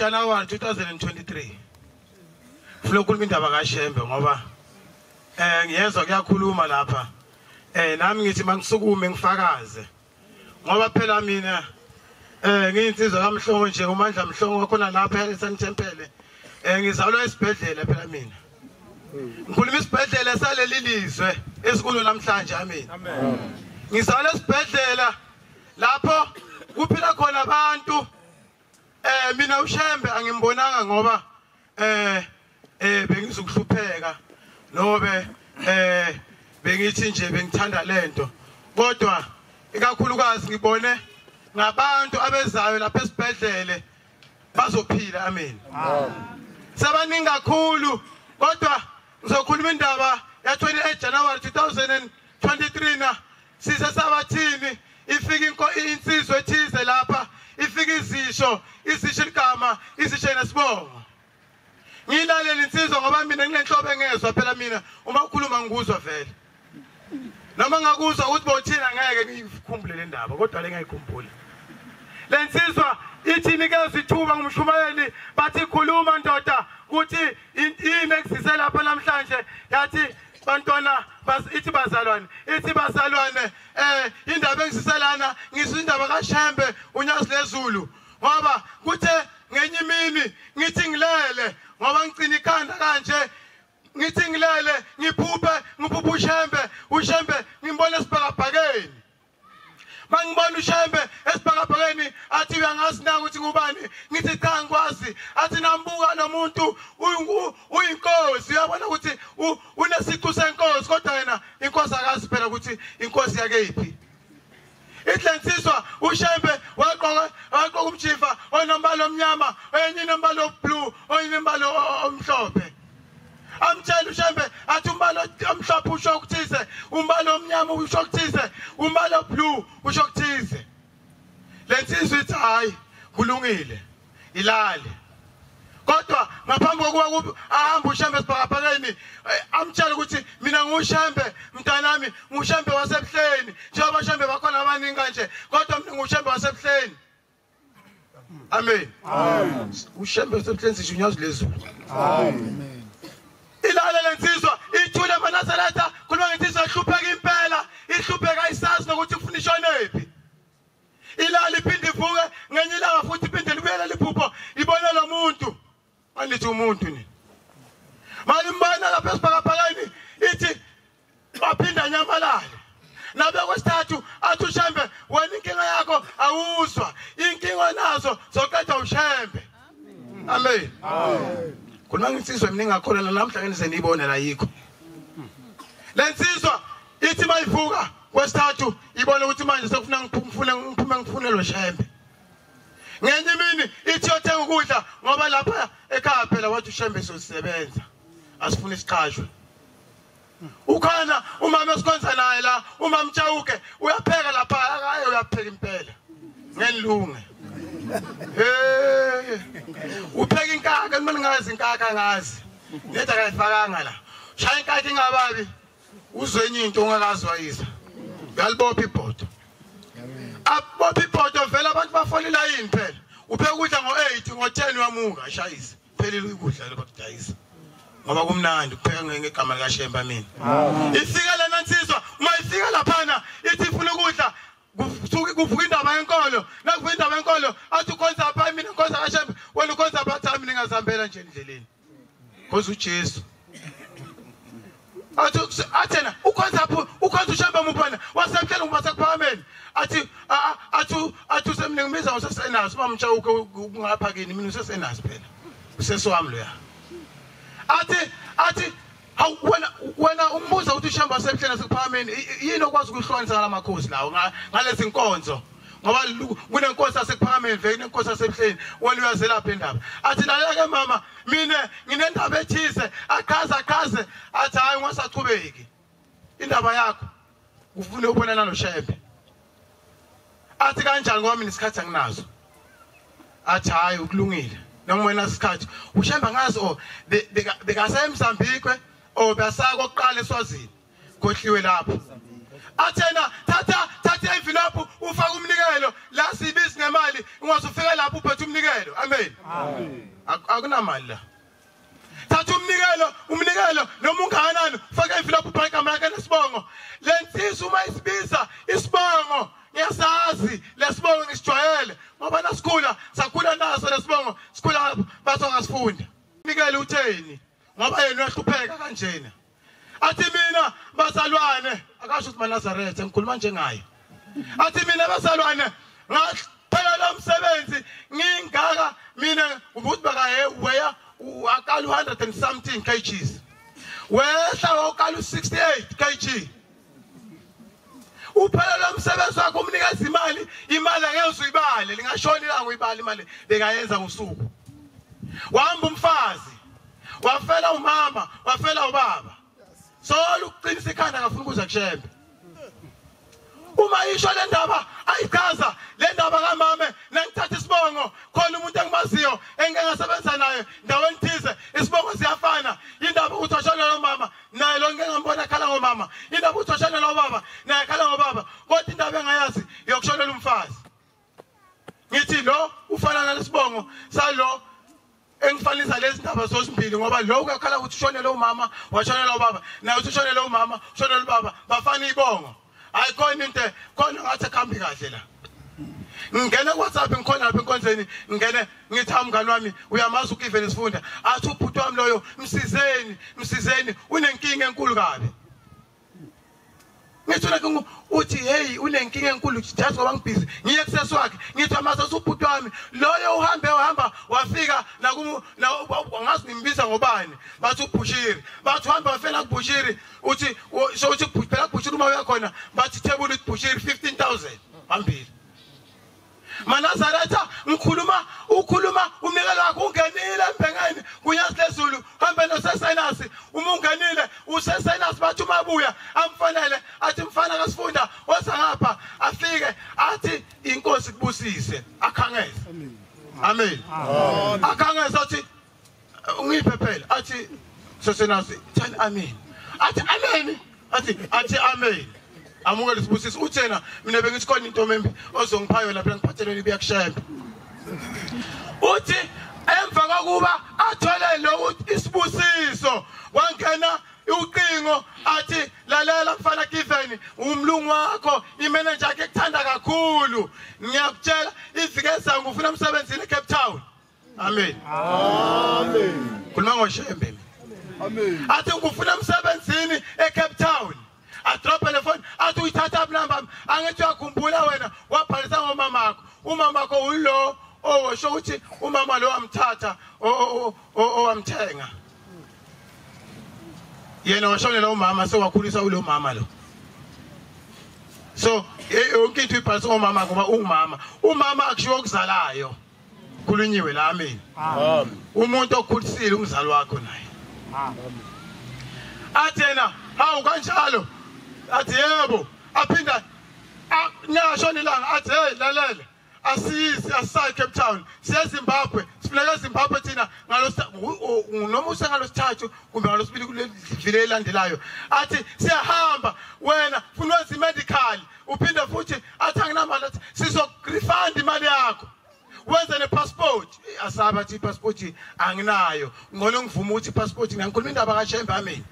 January 2023 funa ukukhuluma indaba kaShembe ngoba eh ngiyezwa kuyakhuluma lapha eh nami ngithi mangisukume ngifakaze ngoba phela mina eh ngiyinsizwa kamhlongo nje umandla mhlongo wakhona lapha eSanthempele eh ngizalwa esibhedlela phela mina ngikhuluma isibhedlela saleli lizwe esikulo namhlanje amen ngizalwa esibhedlela lapho kuphila khona abantu eh mina ushembe angimbonanga ngoba eh eh bengizokuhlupheka nobe eh bengithi nje bengithanda lento kodwa ikakhulukazi ngibone ngabantu abezayo lapha esibhedlele bazophila amen sabaningi kakhulu kodwa ngizokhuluma indaba ya-28 january 2023 na sisesabathini ifika inko insizwe ethize lapha ifika izisho izisho igama izisho nesibongo ngilalele insizwa ngoba mina nginenhlobo engezwa phela mina uma ukhuluma ngikuzwa vele noma ngakuzwa ukuthi bothina ngeke ngiyikhumbule le ndaba kodwa le ngiyikhumbula le nsizwa ithi nikeza ithuba ngumshumayeli bathi khuluma ndoda ukuthi yini ekusise lapha namhlanje yathi bantwana ithi bazalwane ithi bazalwane eh indaba engisiselana ngisho indaba kaShembe unyazi lezulu ngoba kuthe ngenye imini ngithi ngilele ngoba ngicina ikhanda kanje ngithi ngilele ngiphuphe ngiphuphe uShembe uShembe ngimbona esibhakabhakeni mangibona ushembe esibhakabhakeni athi uyangazi na ukuthi ngubani ngithi cha ngikwazi athi nambuka lo muntu uyinkosi uyabona ukuthi unesiqu senkosi kodwa yena inkosi akazi phela ukuthi inkosi yake yiphi ihlensiswa ushembe waqoka waqoka umjiva onombala omnyama oyenye inombala oblue oyenye inombala omhlophe amtshele ushembe athi umbala omhlophe usho ukuthize umbala omnyama usho ukuthize umbala oblue usho ukuthize le nsizwa ithi hhayi kulungile ilale kodwa ngaphambi kokuba ahambe ushembe esibhakabhakeni eh, amtshele ukuthi mina ngushembe mntanami ngushembe wasebuhleni njengoba shembe bakhona abaningi kanje kodwa mina ngushembe wasebuhleni Amen. Amen. Ushembe usemhlenzisha unyazi lezulu. Amen. Ilale lensizwa ithule manaseletha khuluma ngensizwa ihlupheka impela ihlupheka isazi nokuthi ufuna ishonephi. Ilale iphinde ivuke ngenye ilanga futhi iphinde libuyele liphupho ibone lo muntu. Angithi umuntu ni. Malimbana lapha esibhakabhakeni ithi baphinda nyamalale. Nabe kwesithathu athi ushembe wena inkinga yakho awuzwa. Inkinga nazo zoqeda ushembe. Amen. Amen. Khona ngisizwe mina ngakholana namhla ngene senibone la yikho. Lensizwa ithi mayivuka kwesithathu ibona ukuthi manje sekufuna ngiphume ngiphume ngifunelwe shembe. ngenye imini ithi yothenga ukudla ngoba lapha ekhaya phela wathi ushembe sozisebenza asifuna isiqashwe ukhona umama esikhonza naye la uma mtshawuke uyapheka lapha akaye uyapheka impela ngenilunge hey upheka inkaka kumele ngazi inkaka ngazi neda kayifakanga la shaya inkaka ingababi uzwenye into ongakazi wayisa uyalibopha ibhodo abopha ibhodo vele abantu bafolela yini phela uphe ukudla ngo-eight ngo-ten uyamuka ashayise phelile ukudla lokudayisa ngoba kumnandi kupheka ngegama likashemba mina ifika lena nsizwa uma ifika laphana ithi ifuna ukudla kusuke kuvuka indaba yenkolo nakuvuka indaba yenkolo athi ukhonza apha mina ngikhonza kashembe wena ukhonza apha athi mina ngazihambela nje endleleni khoza ujesu athi athena ukhonza apho ukhonza ushembe mupana wasemhlele ngoba sekuphakameni athi athi athi usemningi umiza usesenazo uba mtsha uke kungapha kini mina usesenazo phela usesi wami loya athi athi Awu wena wena umbuza ukuthi ushamba semhleni asekuphakameni yini okwazi ukuhlwanisa ngalamakhosi lawo ngalezi nkonzo ngoba kunenkosi asekuphakameni vele kunenkosi asemhleni wena uyazelapha indaba athi laleke mama mina nginendaba ethise aqhaze aqhaze athi hayi ungasachubeki indaba yakho ufune ukubonana noshebe athi kanjani ngoba mina isikhathi anginazo athi hhayi ukulungile noma wena isikhathi ushemba ngazi o bekasemsambikwe o besaya kokuqala eswazini kohliwe lapho athena thatha thatha envelope ufaka umnikelo la sibizi nemali ungaze ufike lapho uphethe umnikelo amen akunamali la thatha umnikelo umnikelo noma ungakanani faka ivilophu ubhala igama lakhe nesibongo le nsizwa uma isibiza isibongo ngiyasazi lesibongo ngisijwayele ngoba nasikhula sakhula naso lesibongo sikhula bathi ongasifunda umnikelo utheni ngoba yena uyahlupheka kanjena athi mina bazalwane akasho ukuthi manazaretha ngikhuluma njengaye athi mina bazalwane ngaqhela umsebenzi ngingaka mina ukuthi bakaye weya akala 100 and something kgs wehla wakala 68 kg uphelelwa umsebenzi wakhe umnikeza imali imali angeke uzuyibale lingashona ilanga uyibala imali bekayenza ngosuku wahamba umfazi wafela umama wafela ubaba solo ukuqinisa ikhanda ngafuna ukuza kushembe uma isho le ndaba ayichaza le ndaba kamame nangithatha isibongo khona umuntu engimaziyo engike ngasebenza naye ndaweni thize isibongo siyafana indaba ukuthi washona lo mama naye lo ngike ngambona akhala ngomama indaba ukuthi oshonela ubaba naye akhala ngobaba kodwa indaba engayazi yokushonela umfazi ngithi lo ufana nalesibongo salo engifanisa lezi ndaba zosimbili ngoba lo uyakhala ukuthi ushonele umama washonela ubaba naye uthi ushonele umama ushonele ubaba bafana ibongo hayi khona into khona ngathi akuhambi kahle la ngingene kuwhatsapp ngikhona lapha enkonzweni ngingene ngithi ha mngani wami uyamazi ukiven isifunda athi ubhuti wami loyo msizeni msizeni unenkinga enkulu kabi ngisho like uthi hey unenkinga enkulu just ngoba ngibhizi ngiye kusesi wakhe ngithi amase usubhuti wami loyo uhambe uhamba wafika naku ngazi nimbiza ngobani bathi ubhushiri bathi uhamba wafela kubhushiri uthi wo- so uthi bhu- phela bhushiri uma uya khona bathi thebula uthi bhushiri 15000 phambili manazaretha ngikhuluma ukhuluma umnikelo wakho ungenile embhengeni kunyazi lezulu hambe nosesenasi uma ungenile usesenasi bathi uma abuya amfanele athi mfana kasifunda oza ngapha afike athi inkosi kubusise akhangeze amen akhangeze athi ungiphe phela athi sesenazi thani amen athi amen athi athi amen amukele sibusiso uthena mina bengithi khona into membi ozongiphayo lapha ngiphathelweni kuyakushemba uthi emva kokuba athole lokhu isibusiso wangena uqingo athi lalela mfana Given umlungu wakho imeneja yakhe ekuthanda kakhulu ngiyakutshela izike zangu ufuna umsebenzi eCape Town Amen. Amen. Khuluma ngoshembe. Amen. Athi ngikufuna emsebenzini eCape Town. Adrope le phone athi uyithatha number angithi uyakhumbula wena wabhalisa ngomama wakho. Umama wakho ulo owasho ukuthi umama lo wamthatha owamthenga. Yena washonela umama sewakhulisa ulo mama lo. So yonke into ibhalisa ngomama ngoba ungumama. Umama akushiwo okuzalayo. khulunyiwe la amen umuntu okhulisile umzali wakho naye athi yena hawu kanjalo athi yebo aphinda niyasho nilanga athi hey lalela asizi asisayi cape town siyezimbabwe sifuneka ezimbabwe thina noma usengalosithathu kumbe ngalosibili kulevile elandelayo athi siyahamba wena funa wenza imedical uphinde futhi athi anginamali athi sizorefund imali yakho wenze nepassport asaba athi ipassport anginayo ngcono ngivume ukuthi ipassport ngiyakhuluma indaba kashembe amini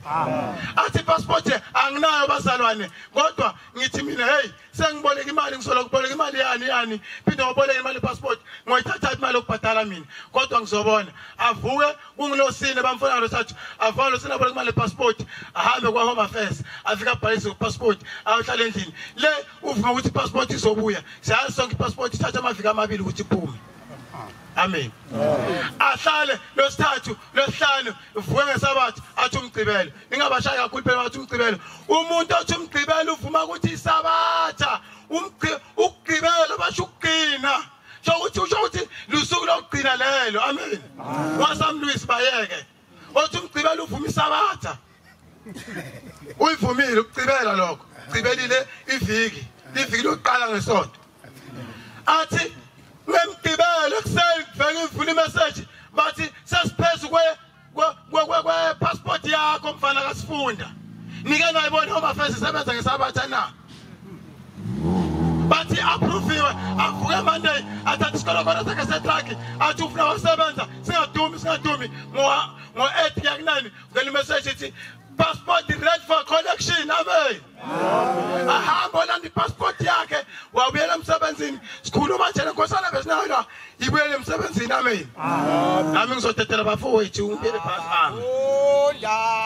athi ipassport anginayo bazalwane kodwa ngithi mina hey sengiboleka imali ngisola kuboleka imali yani yani phinde waboleka imali ipassport ngoyithatha imali yokubhadala mina kodwa ngizobona avuke kungilosini bamfuna losathu avalo sina bole kumale passport ahambe kwa home affairs afika abhalise passport ayohlala endlini le uvume ukuthi passport izobuya siyazi sonke passport ithatha amavika amabili ukuthi iphume amen ahlale losithathu losihlanu vuke ngesabatha athi umgqibelo ningabashayi kakhulu phela bathi umgqibelo umuntu othi umgqibelo uvuma ukuthi isabatha umgqibelo basho ukugcina so ukuthi usho ukuthi lusuku lokugcina lelo amen wasamlwisi bayeke othi umgcibela uvuma isabatha uyivumile ukucibela lokho cibelile iviki iviki lokuqala ngesonto athi ngemgibelo ekuseni kuvele ivula imeseji bathi sesiphezu kwe kwe-passport yakho mfana kasifunda nike nayibona home affairs isebenza ngesabatha na bathi approviwe avuke monday athatha isikolokolo sakhe setruck athi ufuna wasebenza singadumi singadumi ngo-eight yakunani vele imeseji ithi passport red for collection amen ahamba olanda ipassport yakhe wabuyela emsebenzini sikhuluma thena nkosana besinayo la ibuyele emsebenzini amen nami ngizodedela bafowethu ubuyele phasi ami